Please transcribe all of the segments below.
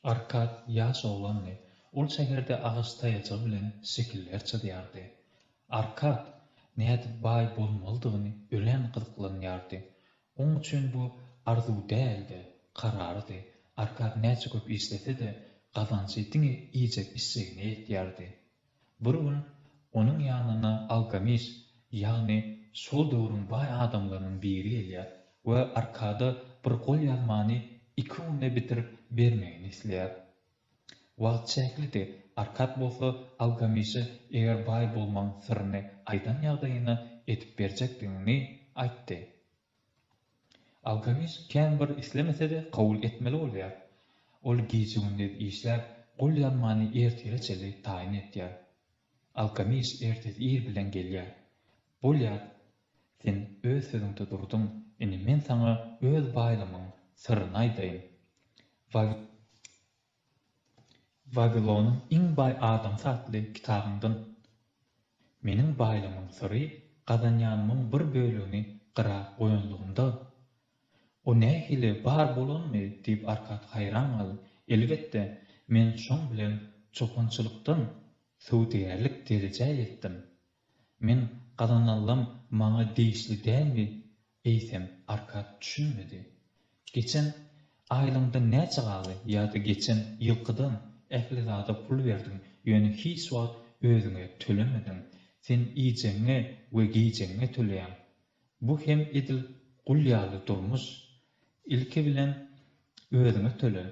Arkad ýaş oglandy. Ol şäherde agaç taýajygy bilen şekiller çyzýardy. Arkad nädip baý bolmalydygyny örän gyzyklanýardy. Oň üçin bu arzuw däl-de, kararydy. Arkady näçe köp işlese-de, gazanjy diňe iýjek-içjegine ýetýärdi. Bir gün onuň ýanyna Algamis, ýagny şol döwrüň baý adamlarynyň biri gelýär we Arkada bir golýazmany iki günde bitirip bermegini isleýär. Wagt çäklidi, Arkat bolsa Algamişe eger baý bolmaň syryny aýdan ýagdaýynda edip berjekdigini aýtdy. Algamiş kän bir islemese-de kabul etmeli bolýar. Ol gije-gündiz işläp, gol ýanmany ertire çenli taýyn etýär. Algamiş ertesi ir bilen gelýär. Bolýar, Sen öz sözüňde durduň. Indi men saňa öz baýlygymyň syryny aýdaýyn. Wawilonyň iň baý adamsy atly kitabyňdan Meniň baýlygymyň syry gazanýanymyň bir bölegini gyra goýanlygymda, O nähili bar bolanmy? diýip Arkat haýran galdy. Elbetde, men şoň bilen çopançylykdan söwdagärlik derejä ýetdim. Men gazananlam maňa degişli dälmi eýsem? Arkad düşünmedi. Geçen aýlyňdan näçe galdy ýa-da geçen ýylkydan ähli zada pul berdiň, ýöne hiç wagt özüňe tölemediň. Sen iýjegiňe we geýjegiňe töleýäň. Bu hem edil gul ýaly durmuş. Ilki bilen özüňe töle.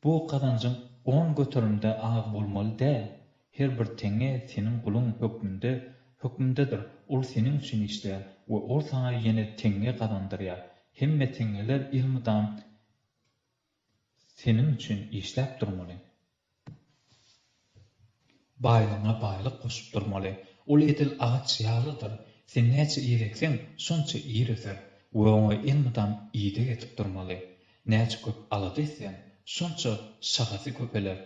Bu gazanjyň on göterimde az bolmaly däl. Her bir teňňe seniň guluň hökmünde, hökmündedir. Ol seniň üçin işleýär we ol saňa ýene teňňe gazandyrýar. Hemme teňňeler elmydam Seniň üçin işläp durmaly. Baýlygyňa baýlyk goşup durmaly. Ol edil agaç ýalydyr. Sen näçe ýer ekseň, şonça ýer öser we oňa elmydam ideg edip durmaly. Näçe köp alada etseň, şonça şagasy köpeler.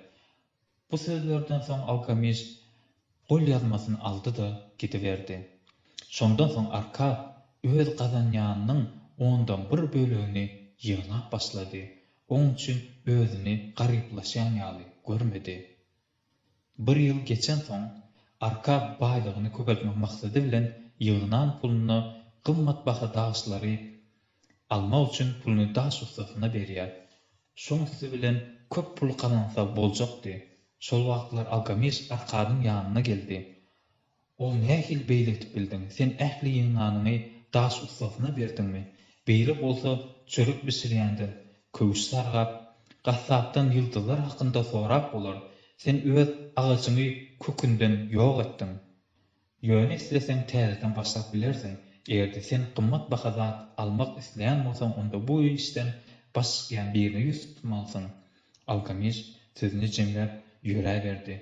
Bu sözlerden soň alkemist golýazmasyny aldy-da, gidiberdi. Şondan soň Arkap öz gazanýanynyň ondan bir bölegini ýygnap başlady, oň üçin özüni garyplaşýan ýaly görmedi. Bir ýyl geçensoň, Arkap baýlygyny köpeltmek maksady bilen ýygnan puluna gymmatbaha daşlary almak üçin puluny daş ussasyna berýär. Şoň üsti bilen köp pul gazansa boljakdy. Şol wagtlar Algamis Arkadyň ýanyna geldi. Ol nähili beýle edip bildiň? Sen ähli ýygnanyňy daş ussasyna berdiňmi? Beýle bolsa çörek bişirýänden, köwüş sargap, gassapdan ýyldyzlar hakynda sorap bolar. Sen öz agajyňy kökünden ýok etdiň. Ýöne isleseň täzeden başlap bilersiň. Eger-de sen gymmat baha zat almak isleýän bolsaň onda bu işden baş çykýan birine ýüz tutmalysyň. Algamiş sözüni jemläp ýöräberdi.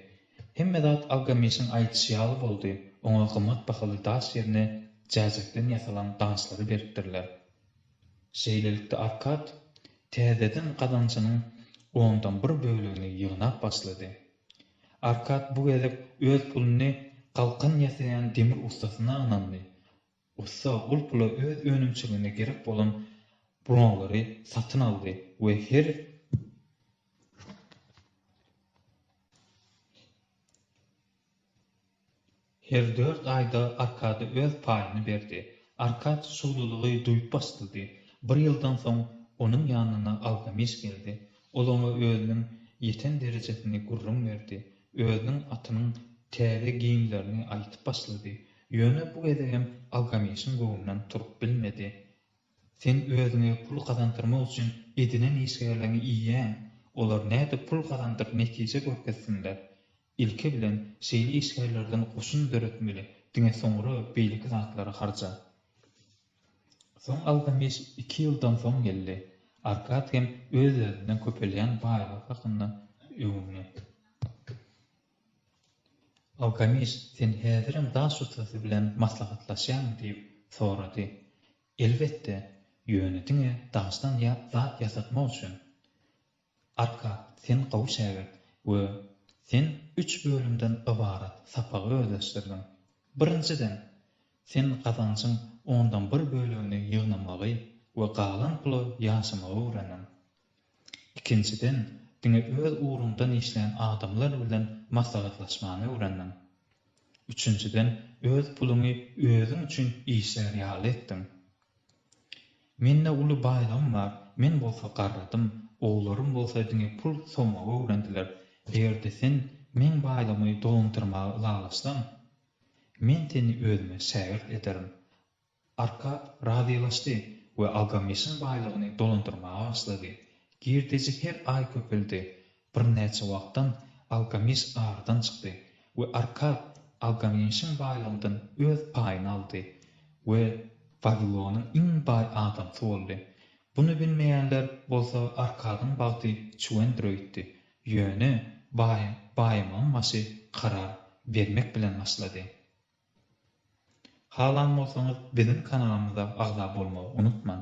Hemme zat Algamişiň aýdyşy ýaly boldy. Oňa gymmat bahaly daş ýerine jäjekden ýasalan gançlary beripdirler. Şeýlelikde Arkad täzeden gazanjynyň ondan bir bölegini ýygnap başlady. Arkad bu gezek öz puluny galkan ýasaýan demir ussasyna ynandy. Ussa ol pula öz önümçiligine gerek bolan buronglary satyn aldy we her Her dört aýda Arkady öz paýyny berdi. Arkady şowlulygy duýup başlady. Bir ýyldan soň onuň ýanyna Algamiş geldi. Ol oňa özüniň ýeten derejesini gürrüň berdi. Özüniň atynyň täze geýimlerini aýtyp başlady. Ýöne bu gezegem Algamişiň göwnünden turup bilmedi. Sen özüňe pul gazandyrmak üçin edinen işgärleriňi iýýäň. Olar nädip pul gazandyryp netije görkezsinler? Ilki bilen şeýle işgärlerden goşun döretmeli, diňe soňra beýleki zatlary harja. Soň Algameş iki ýyldan soň geldi. Arkad hem öz-özünden köpelýän baýlygy hakynda öwündi. Algameş, sen häzirem daş ustasy bilen maslahatlaşýaňmy? diýip sorady. Elbetde, ýöne diňe daşdan zat ýasatmak üçin. Arka, sen gowy şägirt we sen üç bölümden ybarat sapagy özleşdirdiň. Birinjiden, sen gazanjyň ondan bir bölegini ýygnamagy we galan pula ýaşamagy öwrendiň. Ikinjiden, diňe öz ugruňdan işleýän adamlar bilen maslahatlaşmany öwrendiň. Üçünjiden, öz puluňy özüň üçin işlär ýaly etdiň. Mende uly baýlygym bar, men bolsa garradym, oglarym bolsa diňe pul sowmagy öwrendiler. Eger-de sen meň baýlygymy dolandyrmaga ylalaşsaň, men seni özüme şägirt ederin. Arkap razylaşdy we Algameşiň baýlygyny dolandyrmaga başlady. Girdeji her aý köpeldi. Birnäçe wagtdan Algamiş aradan çykdy we Arkad Algamişiň baýlygyndan öz paýyny aldy we Wawilonyň iň baý adamsy boldy. Buny bilmeýänler bolsa Arkadyň bagty çüwendir öýtdi, ýöne baý baýamagyň başy karar bermek bilen başlady. Halan bolsaňyz biziň kanalymyza agza bolmagy unutmaň.